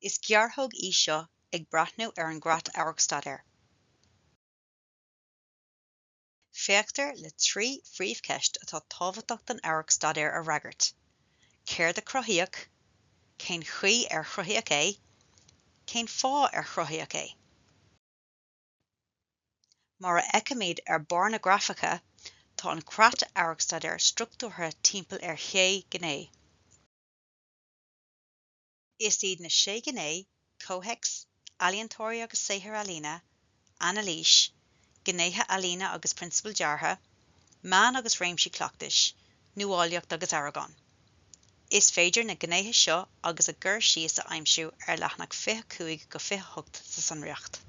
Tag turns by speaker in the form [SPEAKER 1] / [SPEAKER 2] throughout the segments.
[SPEAKER 1] Is gearrthóg í seo ag breathnú ar an gCreat Amharcstaidéir. Féachtar le trí phríomhcheist atá tábhachtach don amharcstaidéar a fhreagairt, céard a cruthaíodh, cén chaoi ar cruthaíodh é, cén fáth ar cruthaíodh é. Mar a fheicimid ar barr na grafaice, tá an creat amharcstaidéir struchtúrtha timpeall ar shé ghné. Is iad na sé ghné, comhthéacs, ealaíontóirí agus saothair ealaíne, anailís, gnéithe ealaíne agus prionsabail deartha, meán agus réimsí cleachtais, nuálaíocht agus aireagán. Is féidir na gnéithe seo agus a gcur síos a aimsiú ar leathanach 25 go 28 sa sonraíocht.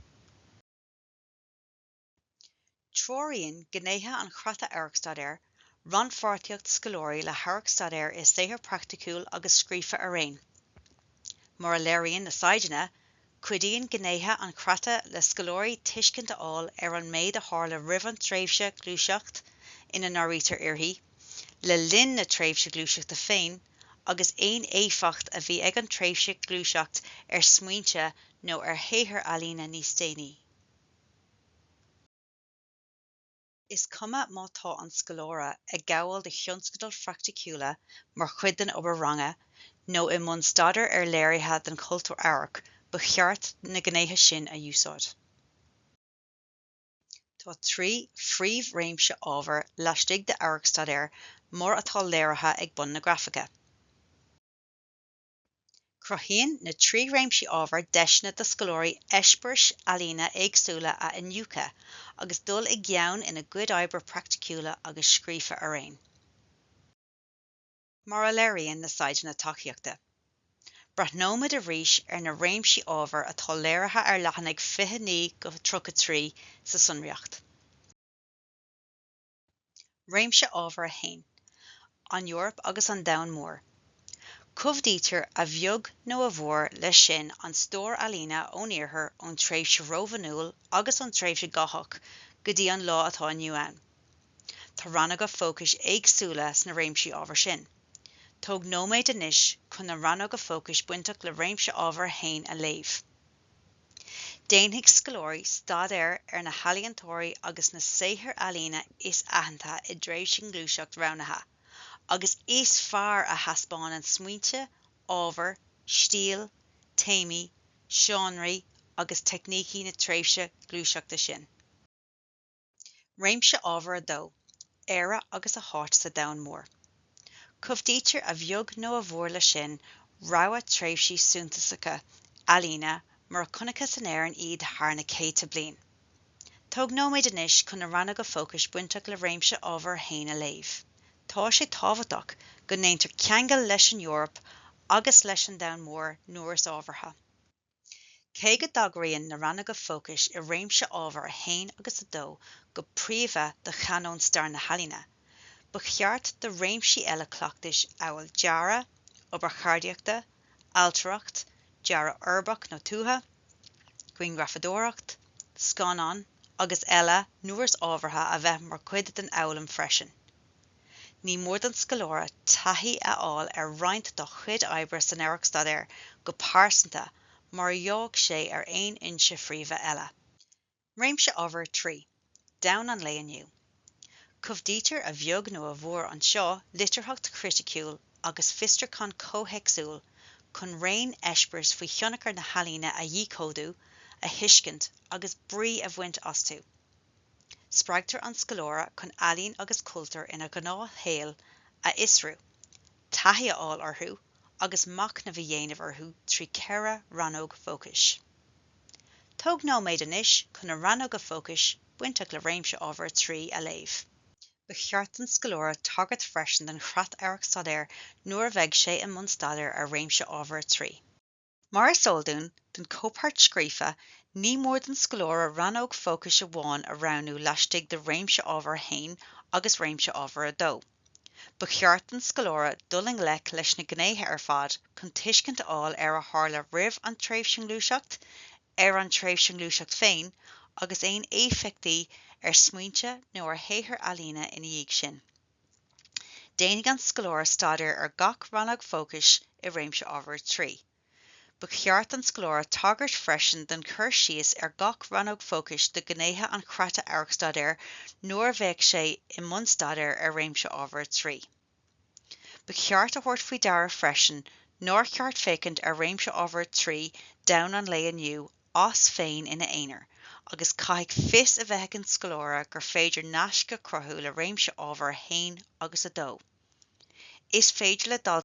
[SPEAKER 1] Treoraíonn gnéithe an Chreata Amharcstaidéir rannpháirtíocht scoláirí le hamharcstaidéar i saothar praiticiúil agus scríofa araon, mar a léiríonn na saighdeanna Cuidíonn gnéithe an chreata le scoláirí tuiscint a fháil ar an méid a tharla roimh an tréimhse gluaiseacht ina n-áirítear uirthi, le linn na tréimhse gluaiseachta féin agus aon éifeacht a bhí ag an tréimhse gluaiseacht ar smaointe nó ar shaothair ealaíne níos déanaí. Is cuma má tá an scoláire ag gabháil do thionscadail phraiticiúla mar chuid den obair ranga nó i mbun staidéir ar léirithe den chultúr amhairc, ba cheart na gnéithe sin a úsáid. Tá trí phríomhréimse ábhair laistigh d'amharcstaidéar mar atá léirithe ag bun na grafaice. Cruthaíonn na trí réimsí ábhar deiseanna do scoláirí eispéiris ealaíne éagsúla a iniúchadh agus dul i gceann ina gcuid oibre praiticiúla agus scríofa araon. Mar a léiríonn na Saighdeanna Tacaíochta, breathnóimid arís ar na réimsí ábhar atá léirithe ar leathanaigh 29 go 33 sa sonraíocht. Réimse ábhar 1. An Eoraip agus an domhan mór. Cumhdaítear a bheag nó a mhór leis sin an stór ealaíne ón Iarthar ón tréimhse Rómhanúil agus ón tréimhse Gotach go dtí an lá atá inniu ann. Tá rannóga fócais éagsúla sna réimsí ábhar sin. Tóg nóiméad anois chun na rannóga fócais bainteach le réimse ábhar 1 a léamh. Déanfaidh scoláirí staidéar ar na healaíontóirí agus na saothair ealaíne is aitheanta i dtréimhse ngluaiseacht roghnaithe agus is fearr a thaispeánann smaointe, ábhar, stíl, téamaí, seánraí agus teicnící na tréimhse gluaiseachta sin. Réimse Ábhair 2, Éire agus a háit sa domhan mór. Cumhdaítear a bheag nó a mhór leis sin rogha tréimhsí suntasacha ealaíne mar a chonacthas in Éirinn iad thar na céadta bliain. Tóg nóiméad anois chun na rannóga fócais bainteach le Réimse Ábhair 2 a léamh. Tá sé tábhachtach go ndéantar ceangal leis an Eoraip agus leis an domhan mór nuair is ábhartha. Cé go dtagraíonn na rannóga fócais i réimse ábhair 1 agus 2 go príomha do chanóin stair na healaíne, ba cheart do réimsí eile cleachtais amhail dearadh, obair cheardaíochta, ailtireacht, dearadh uirbeach nó tuaithe, grianghrafadóireacht, scannán agus eile nuair is ábhartha a bheith mar chuid den fhoghlaim freisin. Ní mór don scoláire taithí a fháil ar roinnt de chuid oibre san Amharc-Staidéar go pearsanta mar a gheobhadh sé ar aon fhoinse phríomha eile. Réimse Ábhair 3, Domhan an lae inniu. Cumhdaítear a bheag nó a mhór anseo litearthacht chriticiúil agus fiosrúchán comhthéacsúil chun raon eispéireas faoi thionchar na healaíne a dhíchódú, a thuiscint agus brí a bhaint astu. Spreagtar an scoláire chun ealaín agus cultúr ina ghnáthshaol a fhiosrú, taithí a fháil orthu agus machnamh a dhéanamh orthu trí cheithre rannóg fócais. Tóg nóiméad anois chun na rannóga fócais bainteach le réimse ábhar 3 a léamh. Ba cheart don scoláire tagairt freisin don chreat Amharc-Staidéir nuair a bheidh sé i mbun staidéir ar réimse ábhar 3. Mar is eol dúinn, don chomhpháirt scríofa, ní mór don scoláire rannóg fócais amháin a roghnú laistigh de réimse ábhar a haon agus réimse ábhar a dó. Ba cheart don scoláire dul i ngleic leis na gnéithe ar fad chun tuiscint a fháil ar a tharla roimh an tréimhse nó ngluaiseacht, ar an tréimhse nó ngluaiseacht féin, agus aon éifeachtaí ar smaointe nó ar shaothair ealaíne ina dhiaidh sin. Déanfaidh an scoláire staidéar ar gach rannóg fócais i réimse ábhair 3. Ba cheart don scoláire tagairt freisin don chur síos ar gach rannóg fócais do ghnéithe an Chreata Amharc-Staidéir nuair a bheadh sé i mbun staidéir ar réimse ábhair 3. Ba cheart a thabhairt faoi deara freisin nár cheart féachaint ar réimse ábhair 3 Domhan an lae inniu as féin ina aonar, agus caithfidh fios a bheith ag an scoláire gur féidir naisc a chruthú le réimse ábhar 1 agus 2. Is féidir le daltaí.